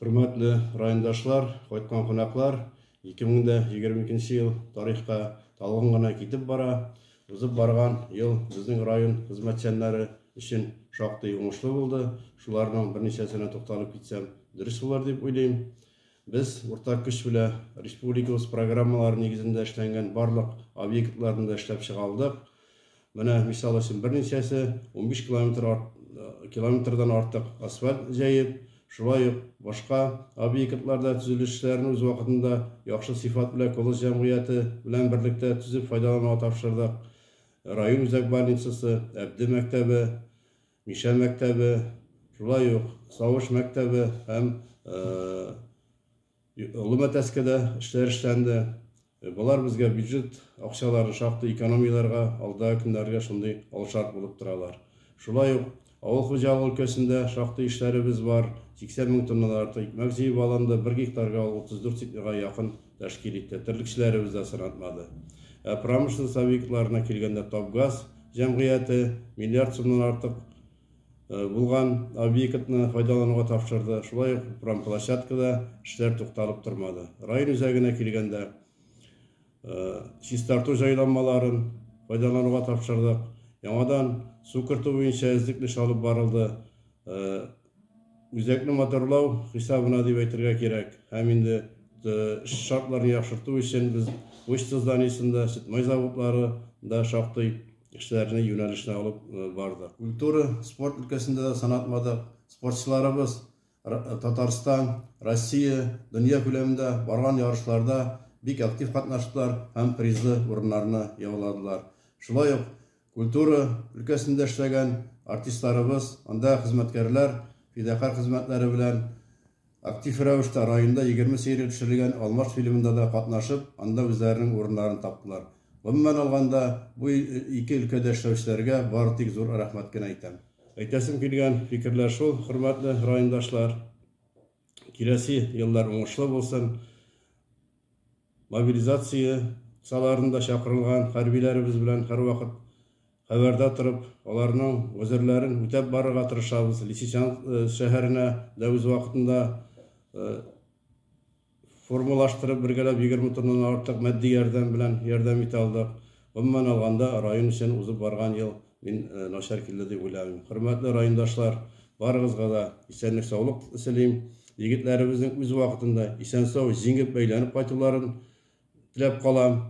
Хөрмәтле райондашлар, кайткан кунаклар, 2022 ел тарихка талгын гына китеп бара. Узып барган ел безнең район хезмәтчәннәре өчен шактый уңышлы булды. Шуларның берничәсенә тукталып китсәм, дөрес булыр дип уйлыйм. Без уртак көч белә республикабыз программалары нигезендә эшләнгән барлык объектларны да эшләп чыга алдык. Менә, мисал өчен, берничәсе унбиш километр километрдан артык асфальт җәеп, шулай ук башка объектларда төзелешләрен үз вакытында яхшы сыйфат белән колхоз җәмгыяте белән берлектә төзеп файдалануга тапшырдык. Район үзәк больницасы, Әбде мәктәбе, Мишә мәктәбе, шулай ук Савыш мәктәбе һәм Олы Мәтәскәдә эшләр эшләнде. Болар безгә бюджет акчаларын шактый экономияләргә, алдагы көннәргә шундый алшарт булып торалар. Шулай ук авыл хуҗалыгы өлкәсендә шактый эшләребез бар, 80 мең тоннадан артык икмәк җыеп алынды, бер гектарга ул 34 центнерга якын тәшкил итте, терлекчеләребез дә сынатмады. Ә промышленность объектларына килгәндә Топгаз җәмгыяте миллиард сумнан артык Булган объектны файдалануга тапшырды. Шулай ук промплощадкада эшләр тукталып тормады. Район үзәгенә килгәндә, чистарту җайланмаларын файдалануга тапшырдык. Яңадан су кертү буенча эзлекле эш алып барылды. Үзәкне моторлау хисабына дип әйтергә кирәк. Һәм инде эш шартларын яхшырту өчен без почта зданиесендә, сөтмай заводларында шактый кешеләрне юнәлешенә алып барды. Культура, спорт өлкәсендә дә сан атмадык спортчыларыбыз Татарстан, Россия, дөнья күләмендә барган ярышларда бик актив катнаштылар һәм призлы урыннарны яуладылар. Шулай ук культура өлкәсендә эшләгән артистларыбыз, анда хезмәткәрләр фидакарь хезмәтләре белән Актив рәвештә районда егерме серия төшерелгән Алмаш фильмында да катнашып, анда үзләренең урыннарын таптылар. Гомумән алганда, бу ике өлкәдә эшләүчеләргә бары тик зур рәхмәт кенә әйтәм. Әйтәсем килгән фикерләр шул, хөрмәтле райондашлар. Киләсе еллар уңышлы булсын. Мобилизация кысаларында чакырылган хәрбиләребез белән һәрвакыт Хәбәрдә торып, аларның гозерләрен үтәп барырга тырышабыз. Лисичанск шәһәренә дә үз вакытында формалаштырып, бергәләп егерме тоннанан артык матди ярдәм белән ярдәм итә алдык. Гомумән алганда, район өчен узып барган ел мин начар килде дип уйламыйм. Хөрмәтле райондашлар, барыгызга да исәнлек-саулык телим. Егетләребезнең үз вакытында исән-сау җиңеп әйләнеп кайтуларын теләп калам.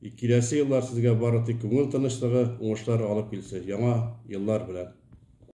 И киләсе еллар сезгә бары тик күңел тынычлыгы, уңышлар алып килсе, яңа еллар белән!